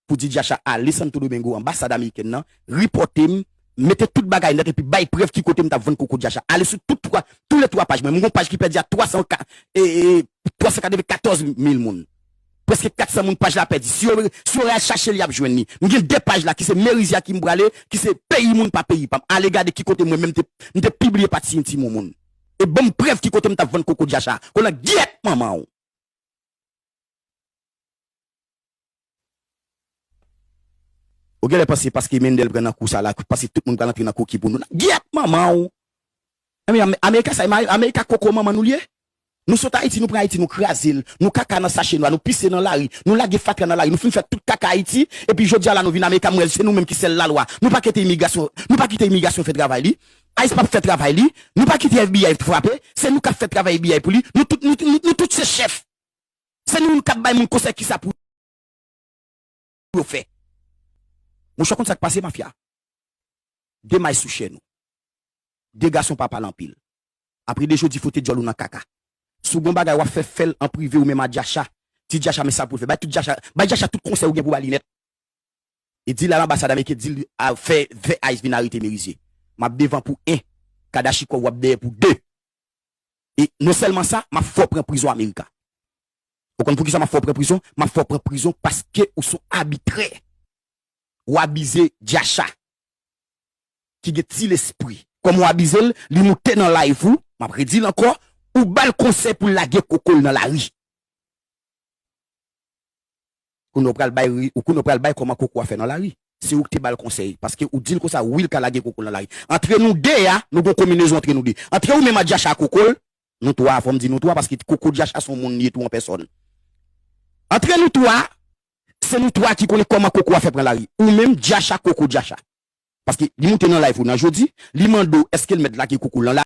pou di Jacha ale Santo Domingo anbasad amerikèn nan ripòte m mete tout bagay nèt epi bay prèv ki kote m t ap vann koko Jacha ale sou tout twa tou le twa paj mwen m gon paj ki pèdi a 300 ka e 394 mil moun prèske 400 moun paj la pèdi si yo si yo al chache l y ap jwenn li m gen 2 paj la ki se Meriziak ki m prale ki se peyi moun pa peyi pa m ale gade ki kote mwen menm te m te pibliye pati yon ti moumoun e ban m prèv ki kote m t ap vann koko Jacha konan gyèt manman w. Ou genlè panse paske Mendel pran nan kou sa la paske tout moun pral antre nan kou ki pou nou la gyèt manman w anmeyy amerika sa amerika koko manman nou l ye nou sot ayiti nou pran ayiti nou kraze l nou kaka nan sache nwa nou pise nan lari nou lage fatra nan lari nou fin fè tout kaka ayiti epi jodi a la nou vin amerika m wè se nou menm ki sèl lalwa nou pa kete imigrasyon nou pa kite imigrasyon fè travay li ice pap fè travay li nou pa kite FBI frape se nou k ap fè travay FBI pou li nou tout nou tout se chèf. Se nou menm kap bay moun konsèy kisa pou yo fè. Monchè w konn sak pase mafya? De may sou chèn ou. De gason pa pale anpil. Apre de jodi fwote dyòl ou nan kaka. Si w gon bagay wap fè fèl an prive ou menm a Djacha. Di Djacha men sa pou l fè. Bay tout Djacha bay Djacha tout konsèy ou gen pou ba li nèt. E dil al anbasad ameriken dil al fè fè ice vin arete Merizier. Map devan pou 1 kadachikòv wap dèyè pou 2. e non sèlman sa map fè w pran prizon america ou konn poukisa map fè w pran prizon map fè w pran prizon paske ou son abitrè ou abize Jacha ki gen ti lespri kòman w abize l li moute nan live ou map redi l ankò ou bal konsèy pou l lage koko l nan lari. Kounya ou pral bay ri ou kounya ou pral bay kòman koko a fè nan lari se ou ki te bal konsèy paske ou dil konsa wi li ka lage koko l nan lari antre nou 2 a nou gon kominezon antre nou 2 antre ou menm a Jacha a koko l nou 3 a fòm di nou 3 paske koko Jacha son moun li ye tou an pèsòn antre nou 3 a se nou 3 ki konnen kòman koko a fè pran lari ou menm Jacha koko Jacha paske li moute nan live ou nan jodi li mande w eske l mèt lage koko l nan